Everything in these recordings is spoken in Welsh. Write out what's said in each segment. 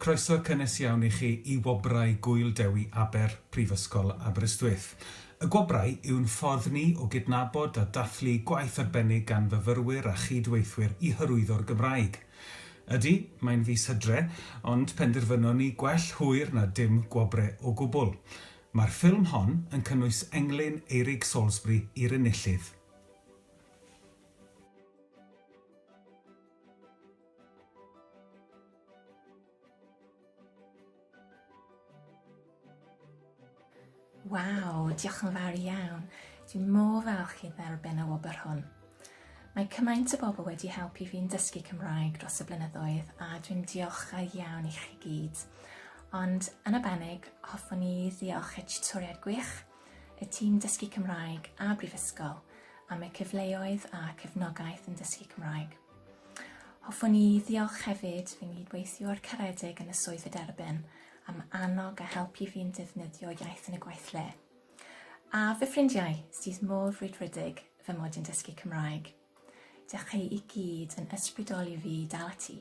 Croeso cynnes iawn i chi i Wobrau Gŵyl Dewi Aber, Prifysgol Aberystwyth. Y Gwobrau yw'n ffordd ni o gydnabod a dathlu gwaith arbennig gan fyfyrwyr a chyd-weithwyr i hyrwyddo'r Gymraeg. Ydy, mae'n fis Hydre, ond penderfynon ni gwell hwyr na dim gwobre o gwbl. Mae'r ffilm hon yn cynnwys englyn Eirig Salisbury i'r enillydd. Waw, diolch yn fawr iawn. Dwi'n mor falch i dderbyn y wobr hwn. Mae cymaint o bobl wedi helpu fi'n dysgu Cymraeg dros y blynyddoedd a dwi'n diolchgar iawn i chi gyd. Ond yn y banig, hoffwn i ddiolch y tutoriad gwych y tîm Dysgu Cymraeg a Brifysgol am y cyfleoedd a cefnogaeth yn dysgu Cymraeg. Hoffwn i ddiolch hefyd fy nghydweithiwr caredig yn y swydd y derbyn am annog a helpu fi'n defnyddio iaith yn y gweithle. A fy ffrindiau sydd mor frwydfrydig fy mod yn dysgu Cymraeg. Dych chi i gyd yn ysbrydoli fi dal ati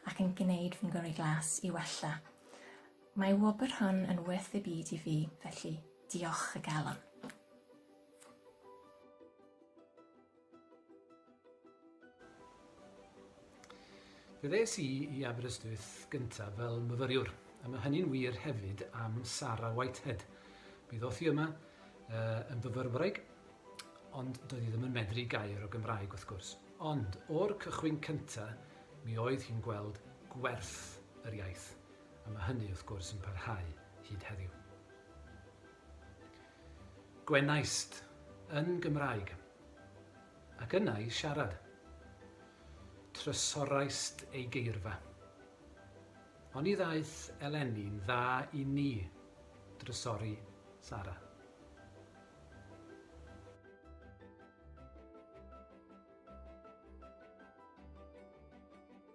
ac yn gwneud fy ngyrru glas i wella. Mae wobr hon yn werth ei byd i fi, felly diolch y galon. Fe ddes i i Aberystwyth gyntaf fel myfyriwr, a mae hynny'n wir hefyd am Sara Whitehead. Mi ddoth hi yma uh, yn fyfyrwraig, ond doedd hi ddim yn medru gair o Gymraeg wrth gwrs. Ond o'r cychwyn cyntaf, mi oedd hi'n gweld gwerth yr iaith. a mae hynny wrth gwrs yn parhau hyd heddiw. Gwenaist, yn Gymraeg. Ac yna i siarad. Trysoraist ei geirfa. Oni ddaeth eleni'n dda i ni drysori Sara.